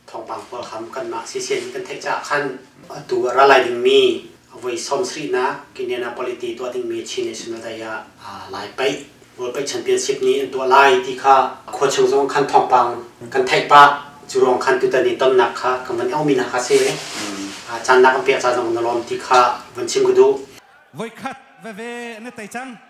thawngpang pawl kha kanmah CCN kan theih caah khan atu a ra lai dingmi voi sawmsarihnak Indiana politi tuah dingmi Chin National Day ah lai paih World Paih Championship ni an tuah lai ti kha khuachung zong khan thawngpang kan theih pah cu ruang khan tutan i tonnak kha kan van aumi hna kha si cannak an pek ca zong na lawm ti kha van chim ka duh voikhat veve na tei cang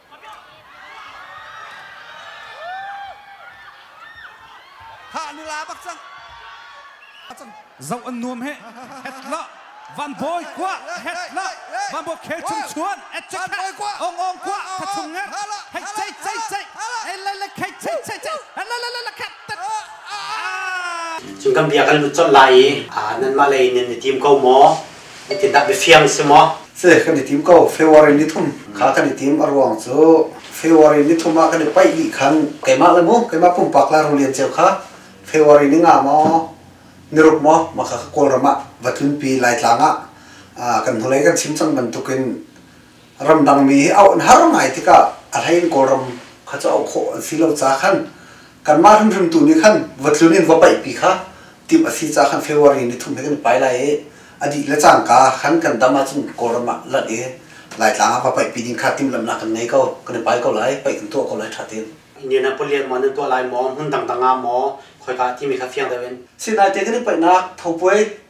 Khah ni la bak cang. Zoh an nuam he. Hetla Van Bawi kwa hetla Van Bawi khe chung chuan Van kwa ong ong kwa ka chung nge hei sei sei sei ele le khei sei sei sei ele le le khat Cun kan bia kan lut colh lai i nan mah lei nan i tim ko maw Etitak bifiang si maw? Se kan i tim ko February nithum kha kan i tim a ruang cu February nithum ah kan i paih dih khan keimah le mu keimah pumpak la rulian ceu kha February ni nga maw niruk maw maka kawlram ah va tlunpi laitlang ah kan hnulei kan chim cang bantukin ramdangmi hi auh an har ngai tikah a hlei in Kawlram kha cu auh khawh an si lo ca khan kanmah hrimhrim tu nih khan va tlun in va paihpi kha timh a si ca khan February ni thum he kan i pai lai i a dih le cangka khan kan dam ahcun Kawlram ah lanh i Laitlang ah va paihpi ding kha timhlamhnak kan ngei ko kan i pai ko lai paih kan tuah ko lai ṭha tein. Indianapolis maw nan tuah lai maw hmun dangdang ah maw khoika ah timi kha fiang deuh in. Sinaite kan i paihnak thopuai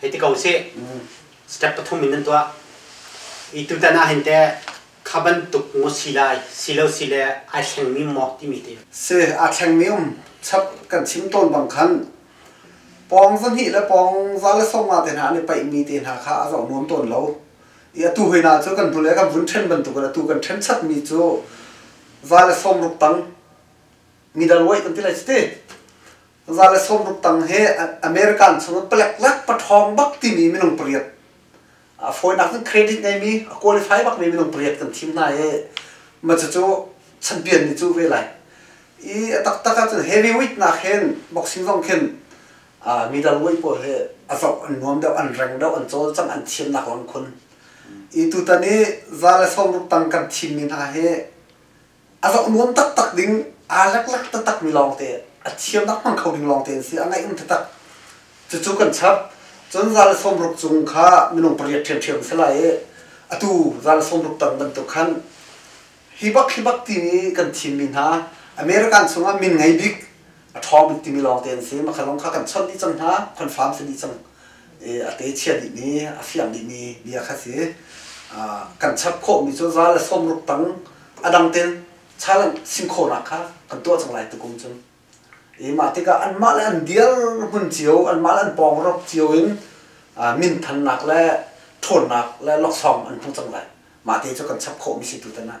hei ti ko sih step pathum in nan tuah i tutan ah hin te kha bantuk ngo si lai si lo si le ai thlengmi maw timi te si a thlengmi um chap kan chim tawn bang khan pawng zahnih le pawng za le sawmnga te hna an i paihmi te hna kha a zoh nuam tawn lo i atu hoina cu kan hnu le kan vun ṭhen bantuk in atu kan ṭhen chatmi cu za le sawm ruk tang midal weight an ti lai citi Za le sawmruk tang hi American chungin palekzak pathawng bak timi minung pariat a fawinak in credit ngeimi a qualify bakmi minung pariat kan thim hna i macucu champion ni cu ve lai i a taktak ahcun heavyweight nak hin boxing zong khin middleweight pawl hi a zoh an nuam deuh an reng deuh an cawlcang an thiamnak lawng in khun i tutan i za le sawmruk tang kan thimmi hna hi a zoh nuam taktak ding aa leklek taktakmi lawngte a thiam hmang kho ding lawngte an si a ngaih um taktak cucu kan chap cun zal sawmruk cung kha minung pariat ṭhiamṭhiam si lai i atu zal sawmruk tang bantuk khan hi bak hi bak timi kan thimmi hna American chungah min ngei bik a ṭhawng bik timi lawngte an si makha lawng kha kan chawnh dih cang hna confirm si dih cang a ke chia dihmi, a fiang dihmi bia kha si. Kan chap khawhmi cu zal a sawmruk tang a dang tein chalang sim khawhnak kha kan tuah cang lai tukum cun. I mah tikah anmah le an dirhmun cio, anmah le an pawngrawp cio in minthannak le ṭhawnnak le laksawng an hmu cang lai. Mah te cu kan chap khawhmi si tu tan ah.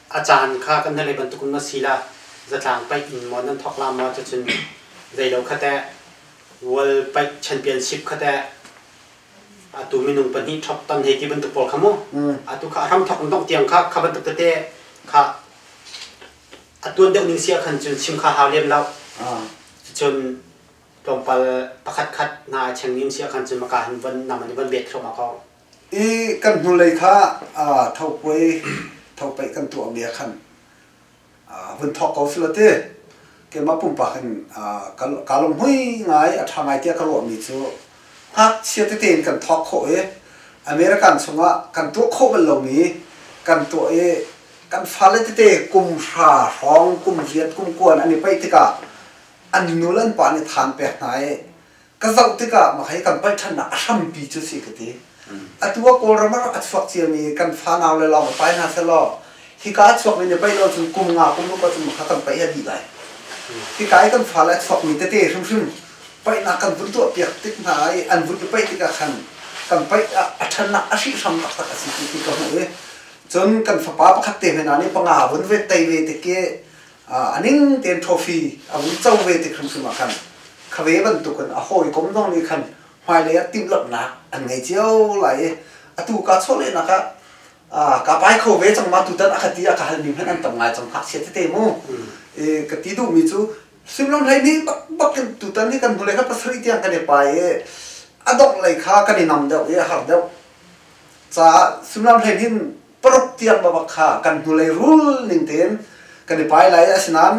a caan kha kan hngalh bantuk in maw sila zatlang paih in maw nan thawklam maw cucun zeilo khateh world paih championship khateh atu minung pahnih thok ton hei ti bantuk pawl kha mu atu kha ram thok in dongh tiang kha kha bantuk tete kha a tuan deuh ning sia khan cun chim kha hau liam lo cun tlawmpal pakhat khat na cheng nim sia khan cun maka han von nam an i von bet thluam a ko i kan hnulei kha thopuai thopaih kan tuahmi ah khan hun thawk ko sila ti keimah pumpak in kaa lunghmui ngai a ṭha ngai tiah ka ruahmi cu ngakchia tete in kan thawk khawh i American chungah kan tuah khawh bal lomi kan tuah i kan fale tete kum hra hrawng kum riat kum kuan an i paih tikah an nu le an pa nih than pek hna i ka zoh tikah mah hi kan palh ṭhannak a hrampi cu si ka ti. Atu ah Kawlram ah a chuak ciami kan fanau le lawng ka pai hna sehlaw, hika a chuakmi nih paih lo cun kum nga, kum ruk ah cun kha kan paih a dih lai. Hika i kan fale a chuakmi tete hrimhrim paihnak kan vun tuahpiak tik hna i an vun i paih tikah khan kan paih ah a ṭhannak a hrihhram taktak a si ti ti ka hmuh i cun kan fapa pakhat te hme hna nih panga vun ve tei ve tik i uh, a ning tein trophy a vun co ve te hrimhrim ah khan khave bantuk in a hawikom zong nih khan hmailei ah timhlamhnak an ngei cio lai i atu ka chawlehnak ah uh, ka pai kho ve cang ma tutan a khati a ka halmi hmanh an tam ngai cang hngakchia tete mu e, ka ti duhmi cu suimlam hlei nih bakbak in tutan hi kan hnulei kha pasarih tiang kan i pai i a dongh lei kha kan i nam deuh i a har deuh caah suimlam hlei hin paruk tiang babak kha kan hnulei rul ning tein kan i pai lai asinain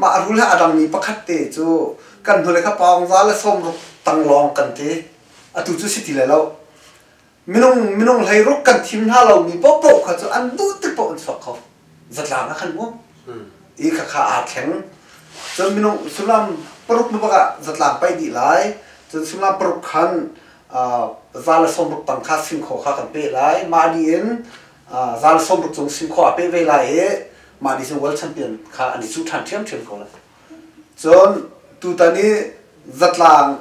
mah rul he a dangmi pakhat te cu kan hnulei kha paung za le sawmruk tang lawng kan te atu cu si ti le lo minung minung hleiruk kan thim hna lomi paohpaoh kha cu an duh tik paoh an chuak kho zatlang ah kan um i kha kha aa thleng cun minung sullam paruk babak ah zatlang paih dih lai cun sullam paruk khan zaan le sawmruk tang kha singkhaw kha kan peh lai mah ni in zaan le sawmruk cung singkhaw a peh ve lai i mah ni cu world champion kha an i cuh ṭhan ṭhiamṭhiam ko lai cun tutan i zatlang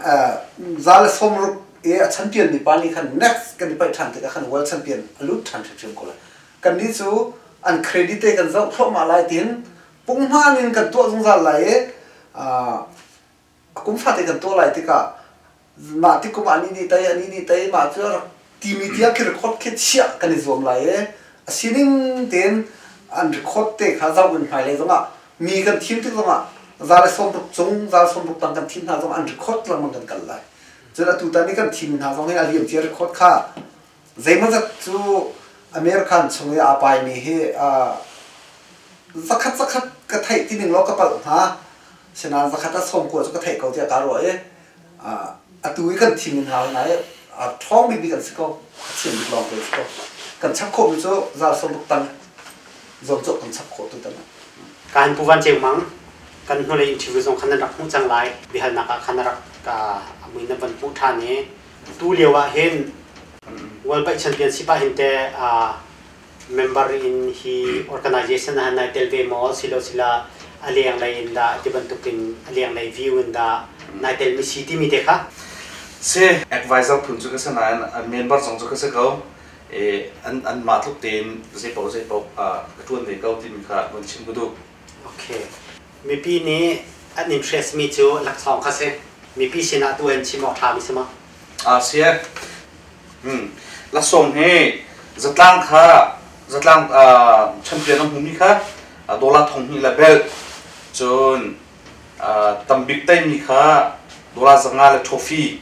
zaan le sawmruk i a champion mi pa ni khan next kan i paih ṭhan tikah khan world champion a lut ṭhan ṭhiamṭhiam ko lai kannih cu an credit te kan zoh thluahmah lai tiin punghman in kan tuah zungzal lai i a kum fate kan tuah lai tikah mah ti kum ani nih tei ani nih tei mah cu rak timi tiang khi record khi chiah kan i zuam lai e a sining tein an record te kha zoh in hmailei zongah mi kan thim tik zongah za le sawm tuk cung za le sawm tuk tang kan thim hna zong an record lengmang kan kal lai cun atu tan i kan thim hna zong hi a liam cia record kha zeimawzat cu American chung i aa paimi hi uh, zakhat zakhat ka theih ti ning law ka palh hnga sinain zakhat a sawmkua cu ka theih ko tiah kaa ruah i uh, atu i kan thim in hna hna i a ṭhawng bikbik an si ko a thiam bik lawng te si ko kan chap khawhmi cu zal sawmbuk tang zuamcawk kan chap khawh tu tang kan pu van ceng mang kan hnulei interview zong khan nan rak hmuh cang lai biahalnak ah khan a rak ka muina van hmuh ṭhan i tu lio ah hin World Bike Championship ah hin te member in hi organization ah nai tel ve maw silo sila a leng lei in dah ti bantuk in a leng lei view in dah nai tel mi si timi te kha si advisor phun cu ka si nain member zong cu ka si ko an mah tluk tein zeipaoh zeipaoh ka tuan ve ko timi kha van chim ku duh Okay. Mipi nih an interestmi cu laksawng kha si. Mipi sinah tu an chim awk hrami si maw? A si. Hmm. Laksawng hi zatlang kha zatlang uh, champion an hmumi kha uh, dollar thong hnih le bel cun uh, tambik teimi kha dollar zanga le trophy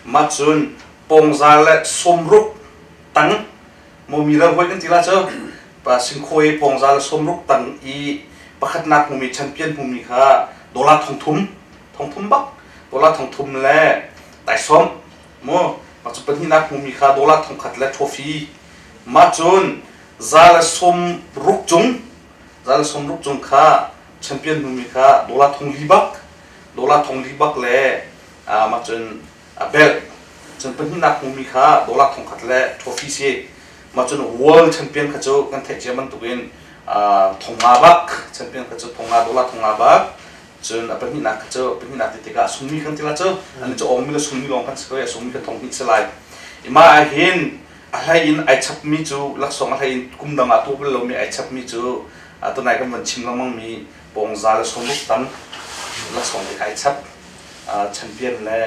mah cun pongzar le somruk tang momi ravoih kan ti la cu pa singkhawi pongzar le somruk tang i pakhatnak hmumi champion hmumi kha dollar thongthum thongthum bak dollar thongthum le taisawm mu mah cu pahnihnak hmumi kha dollar thongkhat le trophy mah cun za le som ruk cung za le som ruk cung kha champion hmumi kha dollar thong li bak dollar thong li bak le mah cun a belh cun pahnihnak hmumi kha dollar thongkhat le trophy si mah cun world champion kha cu kan theih cia bantuk in thonga bak champion kha cu thonga dollar thonga bak cun a pahnihnak kha cu pahnihnak ti tikah sungmi kan tila cu ani cu awmmi le sungmi lawng kan si ko i sungmi kan thong hnih si lai i mah ah hin a hlei in ai chapmi cu laksawng a hlei in kum dang ah tuah bal lomi ai chapmi cu tunai kan van chim lengmang mi bawngza le sawmruk tam laksawng te kha ai chap champion le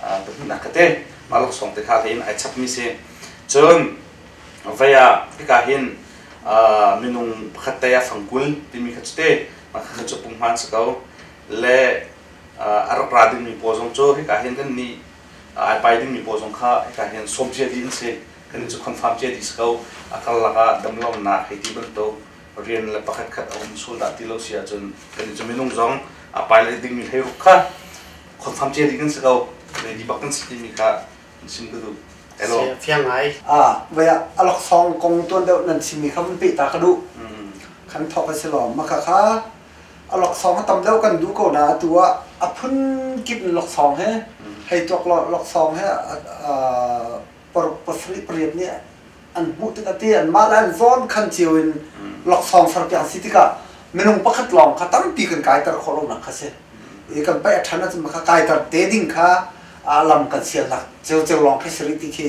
pahnihnak ka te mah laksawng te kha in ai chap mi si cun vaya hika hin minung pakhat te a fangkul timi kha te mah kha cu pumhman si ko le a rak ra dingmi paw zong cu hika hin kan ni ai pai dingmi paw zong kha hika hin som cia di in si kan ni cu confirm cia di si ko a kal lak ah damlonak hei ti bantuk rian le pakhatkhat a um sual dah ti lo si ahcun kannih cu minung zong a pilot dingmi hleiruk kha confirm cia ding kan si ko ready bak kan si timi kha sim ka duh elo fiang ngai ah vai ah alok song kong tuan deuh nan simi kha vun pe ta ka duh kan thok a si lo maka kha alok song tam deuh kan du ko na atu ah a phun kip lok song he hei tuak lo lok song he paruk pasarih pariat nih an hmuh tikah ti anmah le an zawn khan cio in laksawng serpiak an si tikah minung pakhat lawng kha tampi kan kaiter khawh lonak kha si i kan paih a ṭhan ahcun maka kaiter te ding kha lam kan sialnak ceuceu lawng khi si rih ti khi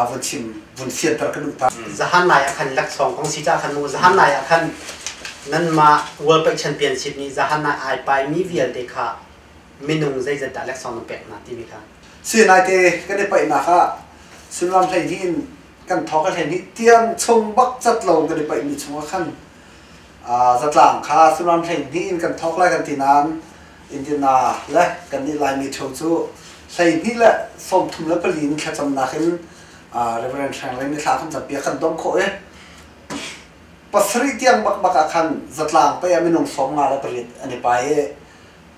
vun chim vun fianter ka duh ta zahan lai ah khan laksawng kong si ca khan mu zahan lai ah khan nanmah world paih championships nih zahan ai pai mi vialte kha minung zeizat dah laksawng na pek hna timi kha. Sinaite kan i paihnak ah sullam hleihnih in kan thawk a hleihnih tiang chung bak cat lo kan i paihmi chungah khan zatlang kha sullam hleihnih in kan thawk lai kan ti nain intina le kan nih laimi theo cu hleihnih le sawmthum le pali in thlacamnak in Reverend Hrangren ni thla kan campi ah kan dom khawh i pasarih tiang bak bak ah khan zatlang pei ah minung sawm nga le pariat an i pai i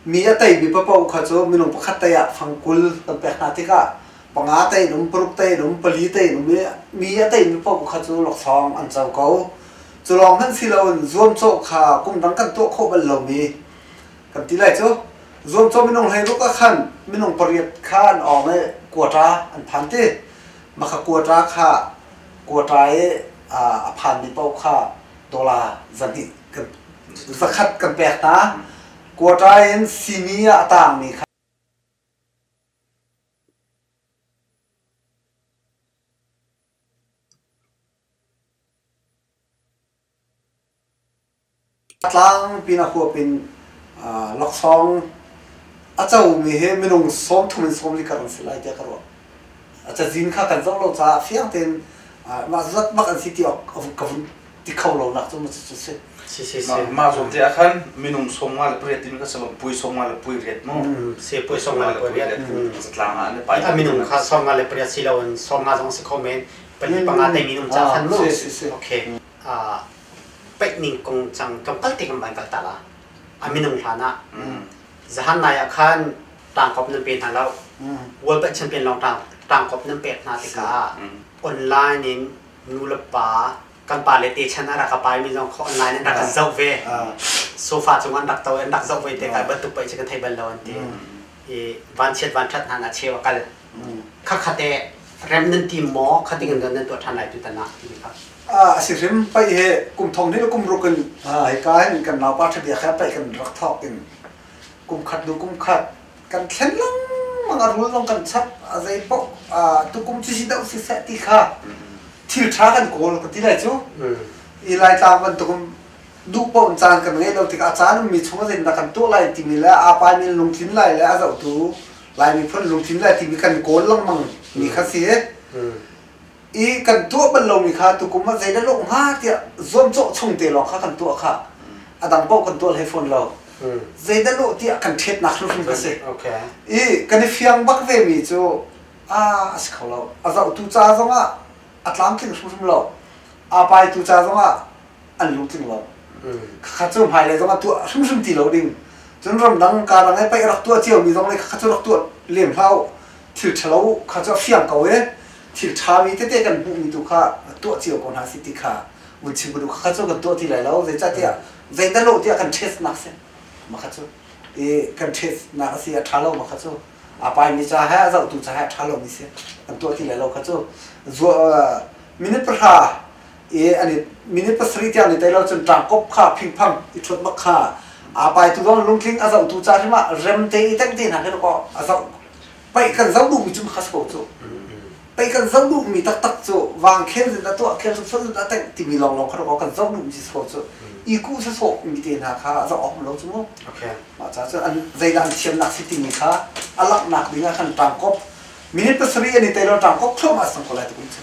mi a tei mi papaw kha cu minung pakhat tei ah fangkul an pek hna tikah panga tei in um paruk tei in um pali tei in um i mi a tei mi paoh kha cu laksawng an co ko cu lawng hmanh si loin zuamcawh kha kum dang kan tuah khawh bal lomi kan ti lai cu zuamcawh minung hlei ruk ah khan minung pariat kha an awng i kuatra an phan ti maka kuatra kha kuatra i a phan mi paoh kha dollar zahnih zakhat ka pek ta quarter in simi ah a tangmi kha tlang pina huap in laksawng a comi hi minung sawm thum in sawm li kar an si lai tiah ka ruah a cazin kha kan zoh lo caah fiang tein mah zat bak an si ti awk ka vun ti kho lo nak cu ma cu si si si si ma zong te akhan minung somnga le pariat tin ka sabab pui somnga le pui riat mu se pui somnga le pui riat zatlang a ne pai a minung kha somnga le pariat si lo an somnga zong si khomen pali panga te minung cha khan mu okay a pek ning kong chang tlawm al ti kan ban kal ta la a minung hlana Zahan lai ah khan tangkop nan pe hna lo. World Champion lawng tangkop nan pek hna tikah online in nu le pa kan pa le te chan a rak ka pai mi zong online in rak kan zoh ve sofa cung an rak to an rak zoh ve te kai bantuk pei cu kan thei bal lo an ti i vanchiat vanṭhat hna na cheu a kal Khakhate rem nan tim maw kha ding nan tuah ṭhan lai tu tanah ti kha. a si rim pai he kum thong hnih le kum ruk in hi ka hin kan nau pa ṭhabia kha pai kan rak thawk in kum khat hnu kum khat kan thlen lengmang a rul zong kan chap a zei paoh tu kum cu si doh si seh ti kha thil ṭha kan kawl ka ti lai cu i lai tlang bantukum duh paoh in caan kan ngei lo tikah a caan ummi chung a zinda kan tuah lai timi le a pai min lungtlin lai le a zohtu Lai miphun lungthin le timi kan kawl lengmang mi kha si i kan tuah bal lomi kha tukum ah zei le lawh hnga tiah zuamcawh chung te lawng kha kan tuah kha a dang paoh kan tuah hlei fawn lo zei da lawh tiah kan ṭhetnak hrimhrim ka si i kan i fiang bak ve mi cu a si kho lo a zohtu ca zongah a tlamtling hrimhrim lo a pai tu ca zongah an lungtling lo khakha cu hmai le zong a tuah hrimhrim ti lo ding cun ramdang karang e paih rak tuah cio mi zong le khakha cu rak tuah lem hlau thil ṭhalo kha cu a fiang ko e thil ṭha mi tete kan hmuh mi tu kha tuah cio ko hna si ti kha vun chim ko du khakha cu kan tuah ti lai lo zeicahtiah zeidah lo tiah kan ṭhes nak si makha cu i kan ṭhes nak a si a ṭha lo makha cu a pai mi ca he a zoh tu ca he a ṭha lo mi si kan tuah ti lai lo kha cu minute pahra e ani minute pasarih tiang ni tailo cun tlangkop kha phingphang i thut mak kha a pai tu zong lungtling a zoh tu ca hrim ah rem te i dek te hna khin ko a zoh paih kan zoh duhmi cu khas ko cu paih kan zoh duhmi taktak cu wang khen zin a tuah khen sut zin a teng timi long long khan ko kan zoh duhmi si so cu i ku se so mi te hna kha a zoh awk lo cu mu okay ma cha cu an zeidan thiamnak si timi kha a laknak ding ah khan tangkop minute pasarih ani tailo tangkop thlom a sang ko lai tu kun chu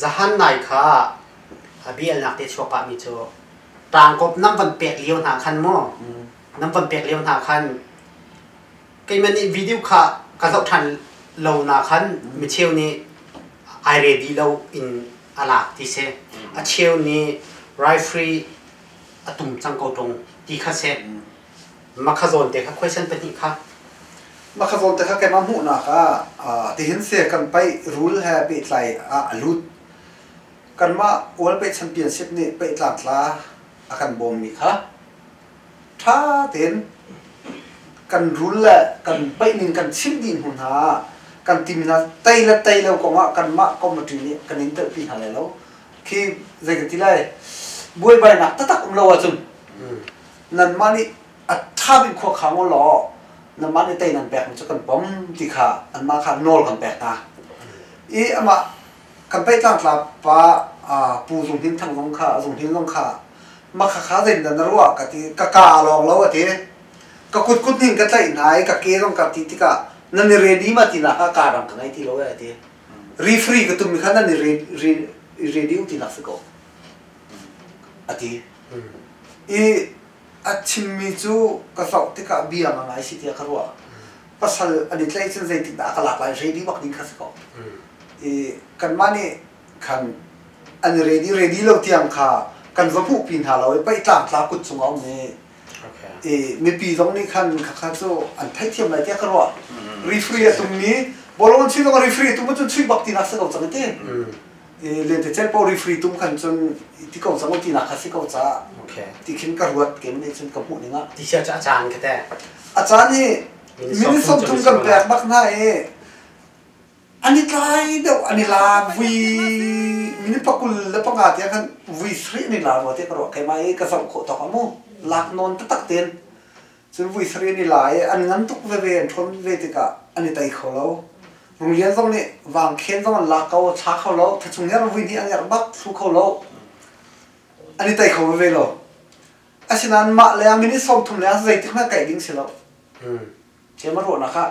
Zahan nai kha a bialnak te chuak pahmi cu tangkop nan van pek lio hna khan maw nan van pek lio hna khan keimah nih video kha ka zoh ṭhan lo na khan micheu nih ai re dih lo in a lak ti si a cheu nih rifle a tum cang ko ṭung ti kha si Makhazawn te kha question pahnih kha Makhazawn te kha kemah hmuhnak ah tihin se kan paih rule he pehtlai ah a lut kanmah worldpaid championship nih pehtlak tla a kan bawmmi kha ṭha tein kan rule le kan paih ning kan chimh dih hnu hna ah kan tim hna tei le tei lo kong ah kanmah committee nih kan in telhpi hna lai lo khi zei ka ti lai buaibainak taktak um lo ahcun nanmah nih a ṭha bik khua khang u law nanmah nih tei nan pekmi cu kan pom ti kha anmah kha nawl kan pek hna i amah kan paih tlangtla pa pu Zung Hnin Thang zong kha Zung Hnin zong kha ma khakha zeitindah na ruah ka ti ka ka lawng lo a ti ka kutkut nih ka tlaih hna i ka ke zong ka ti tikah nan i ren i ma ti na kha ka dang ka ngei ti lo a ti rifri ka tummi kha nan i ready u ti nak si ko a ti. I a chimmi cu ka hlauh tikah bia ma ngai si tiah ka ruah. Pasal an i tlaih cun zeitindah a ka lak lai ready bak ding kha si ko. I kanmah nih khan an i ready ready lo tiang kha kan va hmuhpi hna lo i paihtlang tla kut cung a um i i mipi zong nih khan khakha cu an theithiam lai tiah ka ruah. Refree a tummi volunteer zong a refree a tum cun chuih bak tinak si ko cang i ti. i lentecelh paoh refree tum khan cun i ti ko cang u tinak kha si ko caah okay. ti khin ka ruat ke nih cun ka hmuh ning ah ti sia cu a caan ka te a caan hi minute sawmthum kan pek bak hna i an i tlai deuh an i la vui minute pakul le panga te khan vui sri ni la rua te ka ruah kai mai ka zoh khawh tok amu lak non ta tak ten Cun vui sarih an i la i an ngan tuk veve, an ṭhawn ve tikah an i tei kho lo. Runglian zong nih vangkhen zong an lak ko, thla kho lo, thachung her vui hnih a ngerh bak thlu kho lo. An i tei kho veve lo. Asinain mah le ah minute sawm thum le ah zeitik na kaih ding si lo. Hm. Cem a ruahnak ah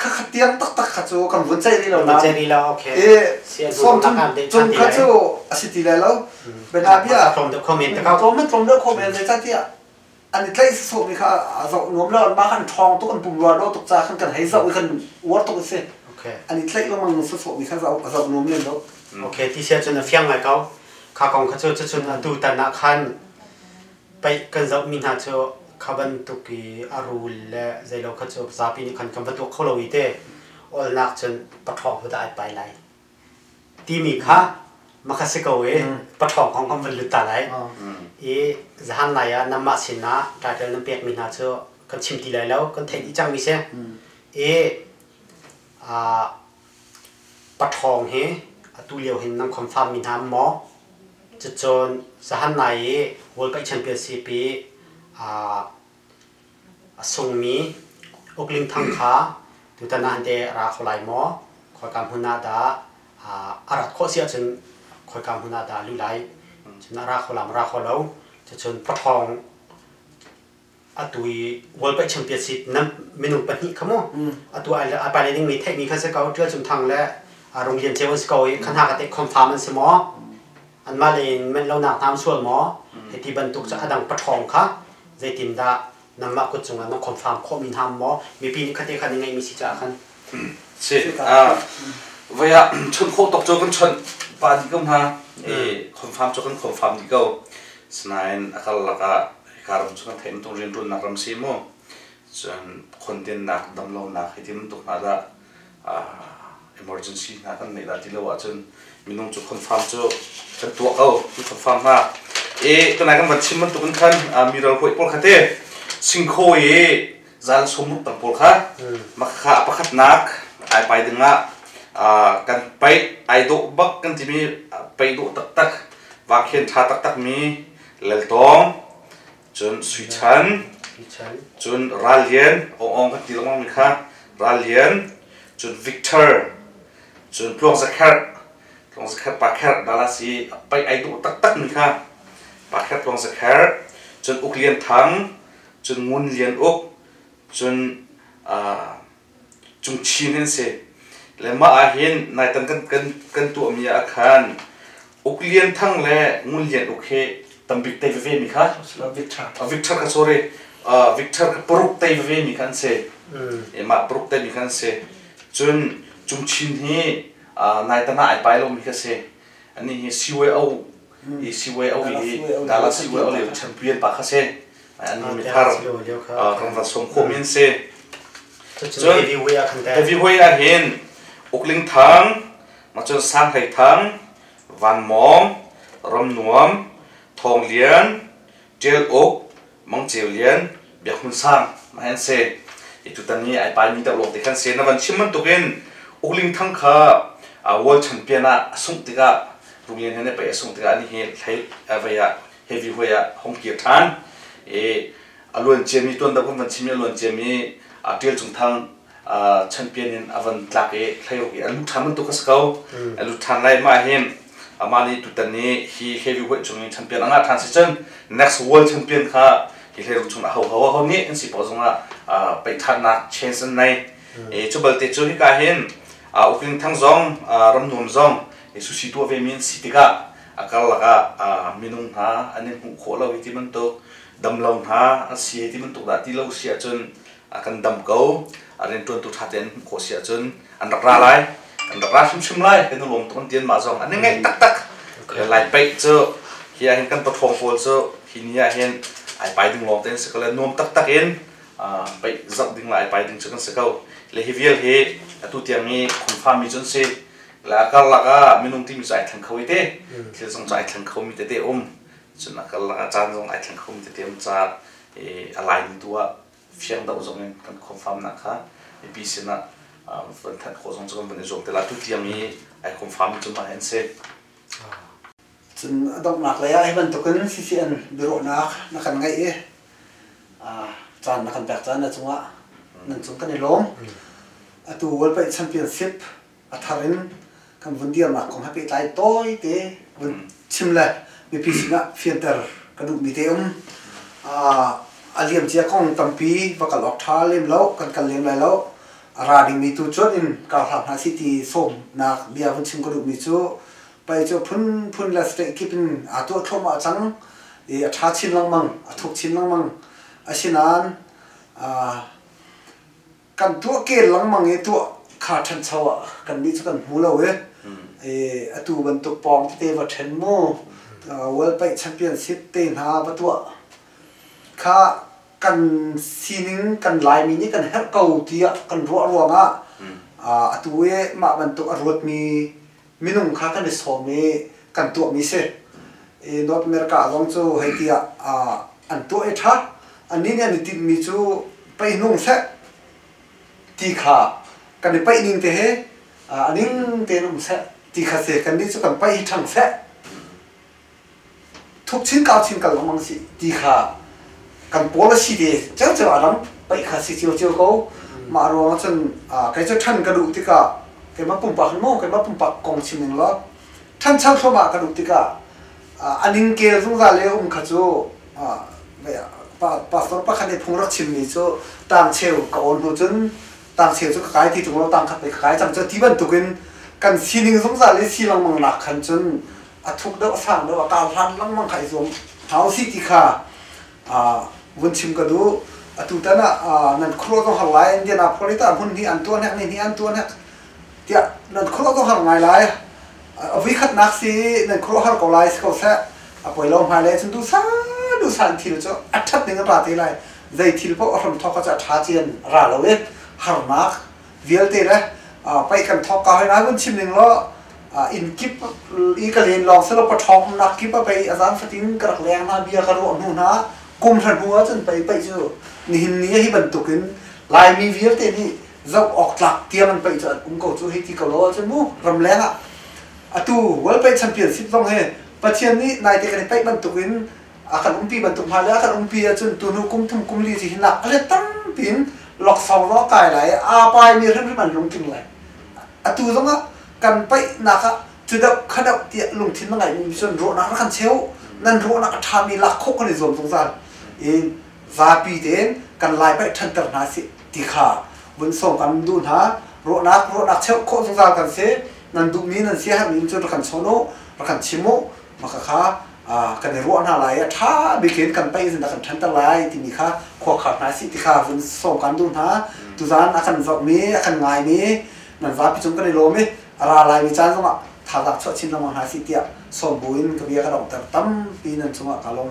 Kha tiang taktak kha cu kan vun ceih rih lo nain ceih rih lo okay i som cun kha cu a si ti lai lo bena bia tlawm deuh khomen te kau tlawm tlawm deuh khomen zeicatiah an i tlaih sawmi kha a zoh nuam lo mah kan ṭhawng tuk an pum ruar lo tuk ca khan kan hei zoh i kan uar tuk a si an i tlaih lengmang sawmi kha zoh nuam len lo okay ti sia cun a fiang ngai kau kha kong kha cu cucun atu tan ah khan Paih kan zohmi hna cu kha bantuk i a rul le zeilo kha cu zapi nih khan kan va tuah kho lo i te olnak cun paṭhawng ho dah ai pai lai timi kha makha si ko i paṭhawng kong kan van lut ta lai i zahan lai ah nanmah sinah title nan pekmi hna cu kan chim ti lai lo kan theih dih cangmi si i Paṭhawng hi atu lio hin nan khuamfaammi hna an maw? Cucun zahan nai i World Cup Championship i a sungmi uklingthang kha tutan ah hante a ra kho lai maw? Khoika hmun ah dah a rat khawh si ahcun khoika hmun ah dah a luh lai? Cun a ra kho la maw, ra kho lo? Cucun paṭhawng atu i world cup champions si nam minung pahnih kha mu atu ai pai le ding mi theih mi khan se ko tial cum thang le rung lian ceu an si ko i khan ha ka te confirm an si maw an mah le in men lo nak nam sual maw hei ti bantuk cu adang pathong kha zei tin dah nam ma kut cung an confirm kho mi ham maw mi pi ni khate khan ngai mi si cha khan si a vaya chun kho tok cho kan chon pa di ko ha e confirm cho kan confirm di ko sinain akal laka hika ram cu kan theih bantuk rianruannak ram si mu cun khondennak damlonak hi ti bantuk hna dah emergency hna kan neih dah ti lo ahcun minung cu confirm cu kan tuah ko kan confirm hna e kanai kan van chim bantuk in khan mi ralhawi pawl kha te singkho i zan sum rup tam pawl kha makha pakhatnak ai pai dingah kan pai ai dawh bak kan timi pai dawh taktak vakhen tha taktak mi Laltawng, cun Sui Chan, cun Ral Lian, Aung Aung kan ti lengmang mi kha, Ral Lian, cun Victor, cun Tluang Za Kherh, Tluang Za Kherh Pa Kherh dala si a paih ai duh taktak mi kha, Pa Kherh Tluang Za Kherh, cun Uk Lian Thang, cun Ngun Lian Uk, cun Cung Chin an si. Le mah ah hin nai tan kan kan kan tuahmi ah khan Uk Lian Thang le Ngun Lian Uk hi tambik tei veve mi kha Vic Thar uh, Vic Thar ka sorry uh, Vic Thar ka paruk tei veve mi kha an si emah paruk tei mi kha an si cun Cung Chin hi uh, nai tan ah ai pai lo mi kha si ani hi CYO i CYO hi Dallas CYO le champion pa kha se ani mi thar ramra som kho min se cun heavyweight ah hin ukling thang machun sang hlei thang van mom ram nuam thong lian tel uk Mangceu Lian, Biak Hmun Sang, mah an se. I tutan ni ai pai mi deuh lawng te khan se. Na van chim bantuk in Ugling Thang kha world champion ah a sungh tikah Ugling he ne pei a sungh tikah ni hi hlei avei ah heavy hue ah hong kir than. I a luan cia mi tuan deuh kan van chim i a luan cia mi a tial cung thang champion in a von tlak i thleirawk i a lut ṭhan bantuk a si ko a lut ṭhan lai mah hi amah nih tutan ni hi heavyweight cung i champion a ngah ṭhan si cun next world champion kha hi thleirawk chung a ho ho ho nih an si paw zong ah paih ṭhannak chance an nei e cu balte cu hika hin ukling thang zong ram nuam zong e susi tuah ve mi an si tikah a karlak ah minung hna an in hmuh khawh lo hi ti bantuk damlo hna an si hi ti bantuk dah ti lo si ahcun a kan dam ko a riantuantu ṭha tein hmuh khawh si ahcun an rak ra lai kan rak ra hrimhrim lai kan i lawm tuk an tian ma zong an i ngaih taktak lai paih cu hi ahhin kan pathawng pawl cu hi ni ahhin ai pai ding lawng tein si ko le nuam taktak in paih zoh ding la ai pai ding cu kan si ko le hi vial hi atu tiang i khunfa mi cun si le a karlak ah minung timi cu ai thleng kho i te thil zong cu ai thleng kho mi tete um cun a karlak ah caan zong ai thleng kho mi tete um caah a laimi tu ah fiangdoh zong in kan confirmnak kha mipi sinah van thanh khawh zong cu kan van i zuam te la tutiang i ai confirm cu mah an si cun a donghnak lei ah hi bantukin CCN biaruahnak na kan ngaih i caan na kan pek caan a cungah nan cung kan i lawm atu World Paih Championship a thar in kan vun dirnak kong he pehtlai tawite vun chim le mipi sinah fianter ka duhmi te um a liam cia kong tampi va kal awk ṭha lem lo kan kal lem lai lo a ra dingmi tu cuan in kar hla hna si ti sawmnak bia vun chim ka duhmi cu pei cu phunphun le state kip in aa tuah thluahmah cang i a ṭha chin lengmang a thuk chin lengmang asinain kan tuah kel lengmang i tuah kha ṭhancho ah kannih cu kan hmu lo i atu bantuk pawng tete va ṭhen mu world paih championship te hna va tuah kha kan sining kan laimi nih kan herh ko tiah kan ruah ruangah atu i mah bantuk a ruatmi minung kha kan i sawm i kan tuahmi si. I North America zong cu hei ti ah an tuah i ṭha. Annih nih an i tinhmi cu pei hnung seh ti kha kan i paih ning te he a ning tein um seh ti kha si. Kannih cu kan paih hi ṭhang seh. thuk chinkau chinkal lengmang si ti kha kan pawl a si ve ceu a ram paih kha si cio cio ko mah ruang cun kai cu than ka duh tikah keimah pumpak mo keimah pumpak kong chim ning lo than chan thloma ka duh tikah aning ke zungzal le um kha cu pastor pakhat nih phung rak chimmi cu tangcheu ka on hnu cun tangcheu cu ka kai ti tung lo tang khat pei ka kai cang cu ti bantukin kan sining zungzal i si lengmang nak khan cun a thuk deuh a sang deuh a kau hlan lengmang kha i zuam hna u ti kha vun chim ka duh atu tan ah nan khuaruah zong har lai Indianapolis ah hmun hnih an tuan hek ni hnih an tuan hek tiah nan khuaruah zong har ngai lai a vui khat nak si nan khuaruah har ko lai si ko seh a poi lo hmai le cun du sa du sa thil cu a that ning a ra te lai zei thil poh a hram thok ka cu a tha cian ra lo i harnak vialte le paih kan thok ka hoi na kun chim ning lo in kip i ka len lawng selo pathong na kip a pai azan fatin ka rak leng na bia ka ro nu na kum hran hua cun pai pai chu nihin ni hi bantuk in laimi vialte nih zau ok tlak tiam an pai chu an um ko chu hei ti ko lo chu mu ram leng a atu world pai championship zong he pathian nih naite kan i pai bantuk in a kan umpi bantuk hna le a kan umpi ahcun tunu kum thum kum li ci hi nak a tampi in loksong ro kai lai aa pai mi hrimhrim an lungtling lai atu zong ah kan paihnak ah tudok khadok tiah lungthin na ngeimi cun ruahnak kan cheu nan ruahnak a ṭha mi lak khawh kan i zuam zungzal in zapi tein kan lai paih ṭhanter hna si ti kha vun song kan duh hna ruahnak ruahnak cheu khawh zungzal kan si nan duhmi nan si har min cun ra kan chawn u ra kan chim u maka kha kan i ruah hna lai i a ṭha bik in kan paih in a kan ṭhanter lai timi kha khuakhar hna si ti kha vun sawm kan duh hna tuzan a kan vorhmi a kan ngaimi nan vapi cung kan i lawm i a ra laimi caan zongah thazaang chuah chin lengmang hna si tiah sawm bu in ka bia ka donghter tampi nan cungah ka lawm